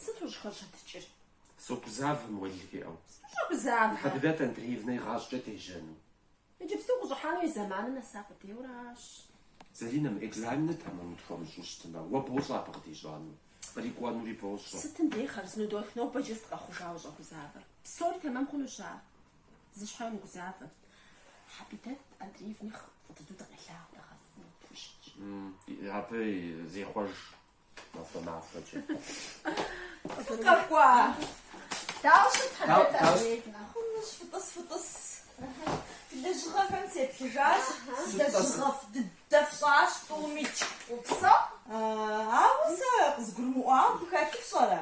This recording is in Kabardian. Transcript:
Сыт ущӏыхэщэтыкӏыр? Согузавэм уэлий жиӏэу. Согузавэ. Хьэбидэт Андреевнэ игъащӏэкӏэ дежьэну. Иджыпсту къыщӏыхьэну и зэманыр нэса къудейуэращ. Заринэм экзаменыр тэмэму тхуэмыщӏу щытмэ, уэ бощӏэ абы къыдищӏэну, кърикӏуэнури бощӏэ. Сытым дей хъарзынэу дохь, нобэ иджы сыт къэхъужауэ ущӏэгузавэр. Псори тэмэм хъунущ ар. Зы щхьэ умыгузавэ. Хьэбидэт Андреевнэ нэхъ фӏы дыдэу дыкъелъагъу дэгъуэу къытхущытщ. Абы зехъуэж махуэ-махуэкӏэ. Фыкъэкӏуа? Дауэ ущыт Хьэбидэт Андреевнэ? Хъунущ, фытӏыс, фытӏыс. Фи лэжьыгъэхэм сеплъыжащ сэ, лэжьыгъэфӏ дыдэ фщӏащ, тӏуми тщ. Упсэу? Ауэ сэ къызгурымыӏуауэ абы хэлъыр фщӏэрэ?